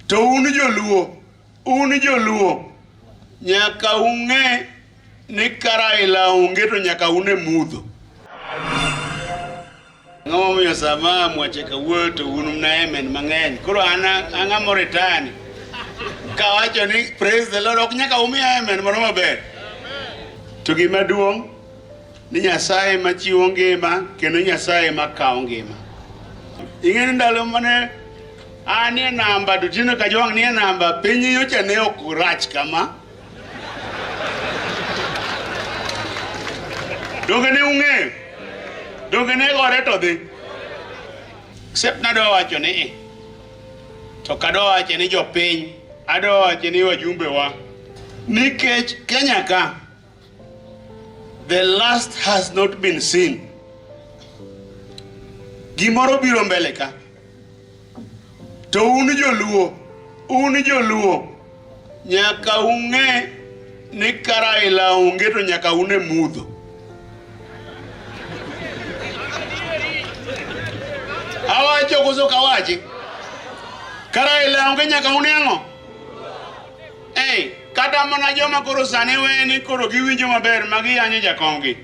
To un joluo, un joluo nyaka ung'e ni karaila onge to nyaka une mudho. Ang'o momiyo sama mwache kawuoyo to un mna emen mang'eny. Koro an ang'a moritani kawacho ni praise the Lord ok nyaka umiya emen mano maber. To gima duong' ni Nyasaye ma chiwo ngima kendo Nyasaye ma kawo ngima. Ing'e ni ndalo mane an e namba to tinde Kajwang' nie namba, piny nyocha ne ok rach kama. Donge ne ung'eyo? Donge ne gore to dhi? Except nadwa wacho ni eh, to kadwa wacho ni jopiny, adwa wacho ni wajumbewa nikech Kenya ka The last has not been seen. Gimoro biro mbele ka. To un joluo, un joluo nyaka ung'e ni karaila onge to nyaka une mudho. Awacho koso kawachi? Karaila onge nyaka une ang'o? Hey, kata mana joma koro sani we ni koro giwinjo maber ma giyanyo jakomgi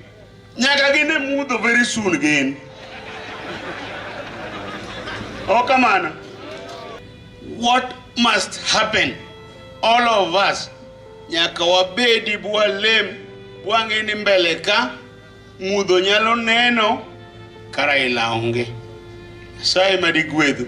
nyaka gin e mudho very soon gin ok kamano what must happen all of us nyaka wabedi bwalem bwang'e ni mbele ka mudho nyalo neno kara ila onge nyasaye madigwedhu